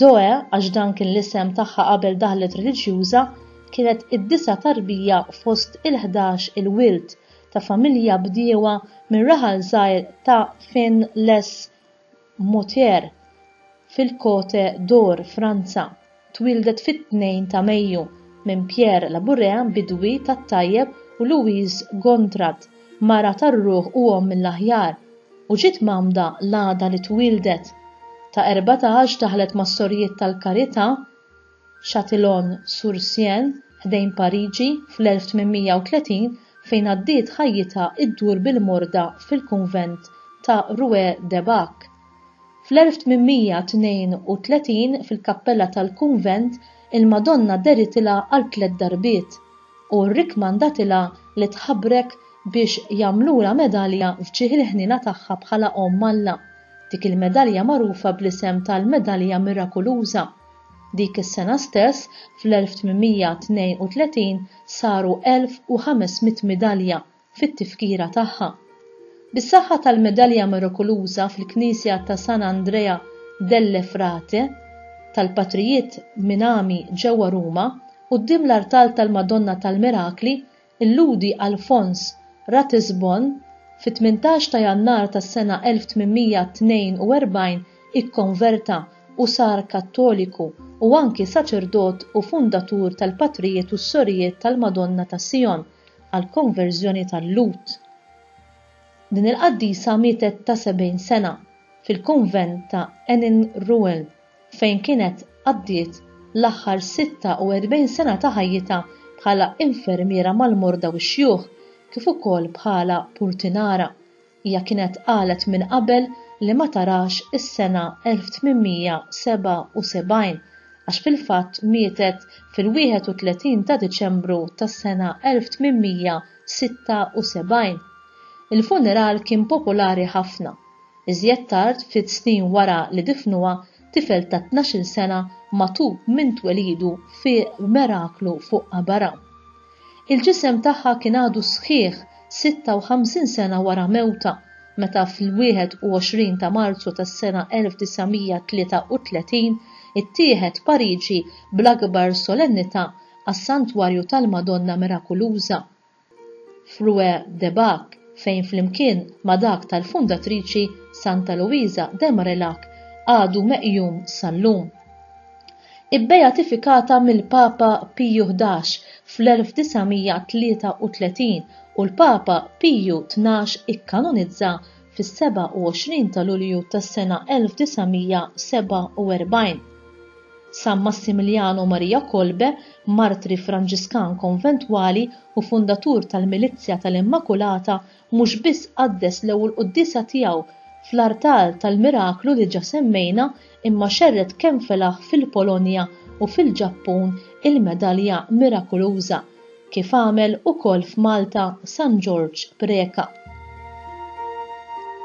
Zoe, għax dan kien l-isem tagħha qabel daħlet reliġjuża, kienet id-disa' tarbija fost il-ħdax il-wild ta' familja bdiewa mir-raħal żgħir ta' Finn-les-Mouthiers, fil-Côte d'Or, Franza. Twieldet fit-Tnejn ta' Mejju minn Pierre Labourrea, bidwi tat-tajjeb u Louise Gontard, mara tar-ruħ u omm mill-aħjar, u ġiet mgħammda l-għada li twieldet. Ta' erbatax daħlet mas-Sorijiet tal-Karità, Châtillon-sur-Seine, ħdejn Pariġi, fl-1830 fejn għaddiet ħajjitha ddur bil-morda fil-kunvent ta' Rue de Bac. Fl-1832 fil-kappella tal-kunvent il-Madonna dehritilha għal tliet darbiet u rrikkmandatilha li tħabrek biex jagħmlulha medalja f'ġieħ il-ħniena tagħha bħala Omm Alla, dik il-medalja magħrufa bl-isem tal-Medalja Mirakuluża. Dik is-sena stess, fl-1832, saru 1,500 midalja. fit-tifkira tagħha. Bis-saħħa tal-medalja mirokuluża fil-knisja ta' San Andrea delle Frate tal-Patrijiet Minami ġewwa Ruma, quddiem l-artal tal-Madonna tal-Mirakli, illudi Alfons Ratisbon fit-tmintax ta' Jannar tas-sena 1842 ikkonverta u sar Kattoliku u anki saċerdot u fundatur tal-Patrijiet u s-Sorijiet tal-Madonna ta' Sijon, għall-konverżjoni ta' Lut. Din il-qaddisa mietet ta' 70 sena fil-kunvent ta' Heningeruen fejn kienet qaddiet l-aħħar 46 sena ta' ħajjitha bħala infermiera mal-morda u x-xjuħ kif ukoll bħala purtinara. Hija kienet qalet minn qabel li ma tarax is-sena 1877 għax fil-fatt mietet fil-31 ta' Diċembru tas-sena 1876. Il-funeral kien popolari ħafna. Iżjed tard, ftit snin wara li difnuha, tifel ta' tnax-il sena magħtub minn twelidu fieq b'meraklu fuq qabarha. Il-ġisem tagħha kien għadu sħiħ 56 sena wara mewtha, meta fl-21 ta' Marzu tas-sena 1933 ittieħed Pariġi bl-akbar solennità għas-Santwarju tal-Madonna Mirakuluża f'Rue de Bac fejn flimkien ma' dak tal-fundatriċi Santa Luisa de Marillac għadu meqjum sal-lum. ibbeatifikata mill-Papa Piju Ħdax fl-1933 u l-Papa Piju Tnax ikkanonizza fis-27 ta' Lulju tas-sena 1947. San Massimiljanu Marija Kolbe, martri Franġiskan konventwali u fundatur tal-Milizzja tal-Immakulata, mhux biss qaddes l-ewwel quddiesa tiegħu fl-artal tal-miraklu li ġa semmejna imma xerred kemm felaħ fil-Polonja u fil-Ġappun il-medalja mirakuluża, kif għamel ukoll f'Malta San Ġorġ Preca.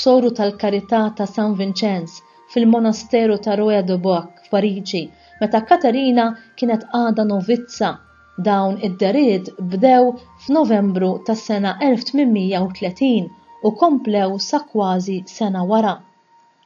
Soru tal-Karità ta' San Vinċenz fil-Monasteru ta' Roye-de-Boixe f'Pariġi meta Katerina kienet għadha novizza, dawn id-dehriet bdew f'Novembru tas-sena 1830 u komplew sa kważi sena wara.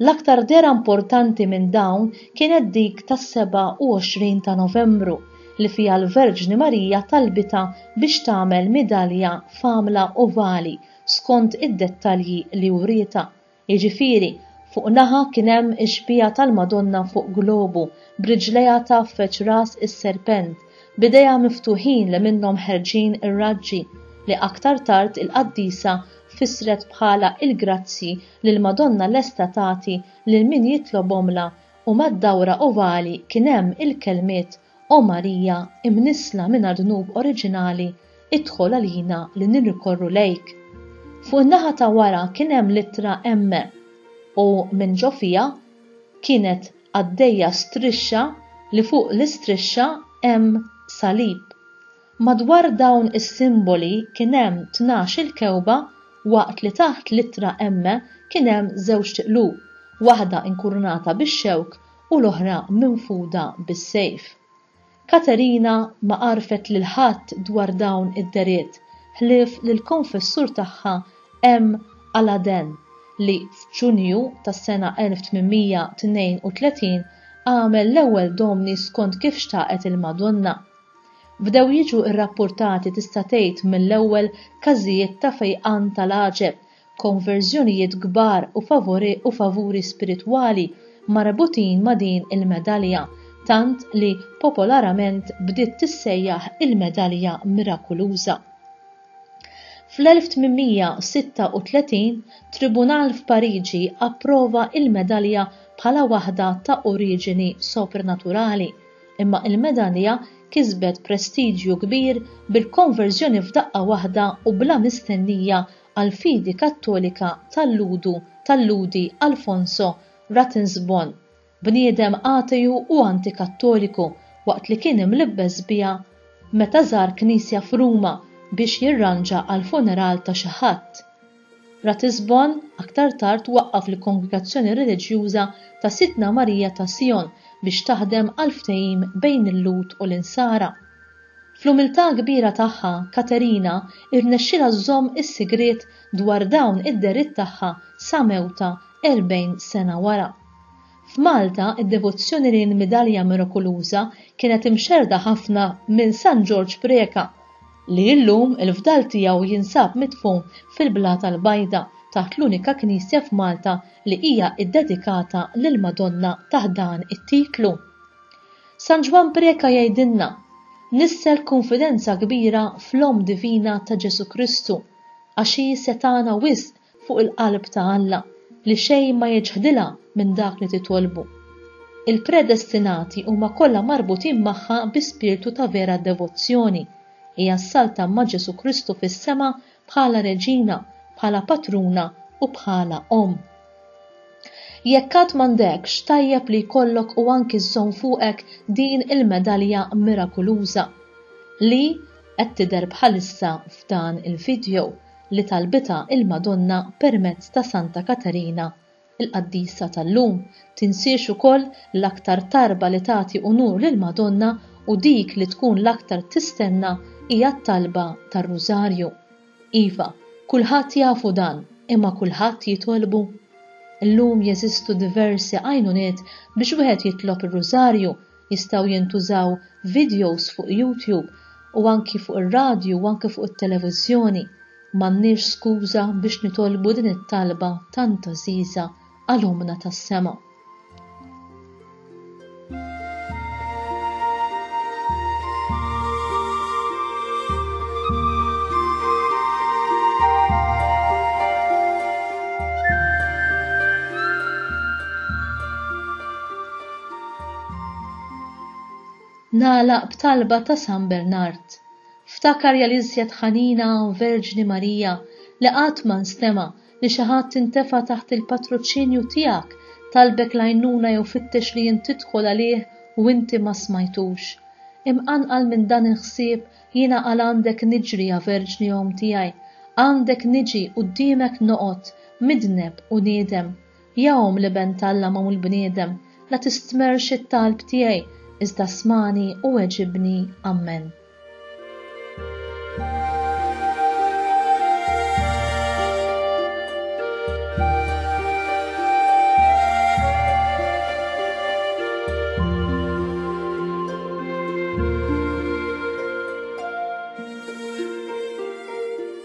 L-aktar dehra importanti minn dawn kienet dik tas-27 ta' Novembru li fiha l-Verġni Marija talbitha biex tagħmel midalja f'għamla ovali skont id-dettalji li wrietha, jiġifieri fuq naħa kien hemm ix-xbieha tal-Madonna fuq globu, b'riġlejha tgħaffeġ ras is-serpent, b'idejha miftuħin li minnhom ħerġin ir-raġġi, li aktar tard il-qaddisa fissret bħala l-grazzji li l-Madonna lesta tagħti lil min jitlobhomlha u mad-dawra ovali kien hemm il-kelmiet O Marija, imnissla minn għad-dnub oriġinali, idħol għalina li nirrikorru lejk. Fuq in-naħa ta' wara kien hemm l-ittra M u minn ġo fiha kienet għaddejja strixxa li fuq l-istrixxa hemm salib. Madwar dawn is-simboli kien hemm tnax-il kewba waqt li taħt l-ittra M kien hemm żewġt qlub, waħda inkurunata bix-xewk u l-oħra minfuda bis-sejf. Katerina ma għarfet lil ħadd dwar dawn id-dehriet ħlief lill-konfessur tagħha M. Aladen li f'Ġunju tas-sena 1832 għamel l-ewwel Domni skont kif xtaqet il-Madonna. Bdew jiġu rrappurtati tista' tgħid mill-ewwel każijiet ta' fejqan tal-għaġeb konverżjonijiet kbar u favori u favuri spiritwali marbutin ma' din il-medalja, tant li popolarament bdiet tissejjaħ il-medalja mirakuluża. Fl-1836, tribunal f'Pariġi approva il-medalja bħala waħda ta' oriġini soprnaturali, imma il-medalja kisbet prestiġju kbir bil-konverżjoni f'daqqa waħda u bla mistennija għall-fidi Kattolika talludu talludi Alfonso Ratisbon, bniedem ateju u anti-Kattoliku, waqt li kien imlibbes biha meta żar knisja f'Ruma biex jirranġa għall-funeral ta' xi ħadd. Ratisbon aktar tard waqqaf l-Kongregazzjoni Reliġjuża ta' Sidtna Marija ta' Sion biex taħdem għall-ftehim bejn il-Lhud u l-Insara. Fl-umiltà kbira tagħha, Katerina rnexxielha żżomm is-sigriet dwar dawn id-dehriet tagħha sa mewtha 40 sena wara. F'Malta, id-devozzjoni lejn il-midalja mirakuluża kienet imxerrda ħafna minn San Ġorġ Preca, li llum il-fdal tiegħu jinsab midfun fil-Blata l-Bajda taħt l-unika knisja f'Malta li hija ddedikata lill-Madonna taħt dan it-titlu. San Ġwann Preca jgħidilna, Nisser kunfidenza kbira fl-Omm Divina ta' Ġesù Kristu, għax hi setgħana wisq fuq il-qalb ta' Alla li xejn ma jiċħdilha minn dak li titolbu. Il-predestinati huma kollha marbutin magħha bi spirtu ta' vera devozzjoni, hija ssalta ma' Ġesù Kristu fis-sema bħala reġina, bħala patruna u bħala omm. Jekk għad m'għandekx, tajjeb li jkollok u anki żżomm fuqek din il-medalja mirakuluża li qed tidher bħalissa f'dan il-video li talbitha il-Madonna permezz ta' Santa Katerina Il-qaddisa tal-lum tinsiex ukoll l-aktar tarba li tagħti unur lill-Madonna u dik li tkun l-aktar tistenna hija t-talba tar-Rużarju. Iva, kulħadd jafu dan, imma kulħadd jitolbu? Illum jeżistu diversi għajnuniet biex wieħed jitlob ir-Rużarju Jistgħu jintużaw videos fuq YouTube u anki fuq ir-radju u anki fuq it-televiżjoni. M'għandniex skuża biex nitolbu din it-talba tant għażiża għal Ommna tas-Sema. Nagħlaq b'talba ta' San Bernard. Ftakarja l-iżjed ħanina hawn Verġni Marija li qatt ma nstema' li xi ħadd intefa' taħt il-patruċinju tiegħek, talbek l-għajnuna jew fittex li int tidħol għalih u inti ma smajtux. Imqanqal minn dan il-ħsieb jiena għal għandek niġri ja Verġni Omm tiegħi, għandek niġi quddiemek noqgħod, midneb u niedem. Ja Omm l-Iben t'Alla magħmul bniedem, la tistmerrx it-talb tiegħi, iżda smagħni u weġibni. Ammen.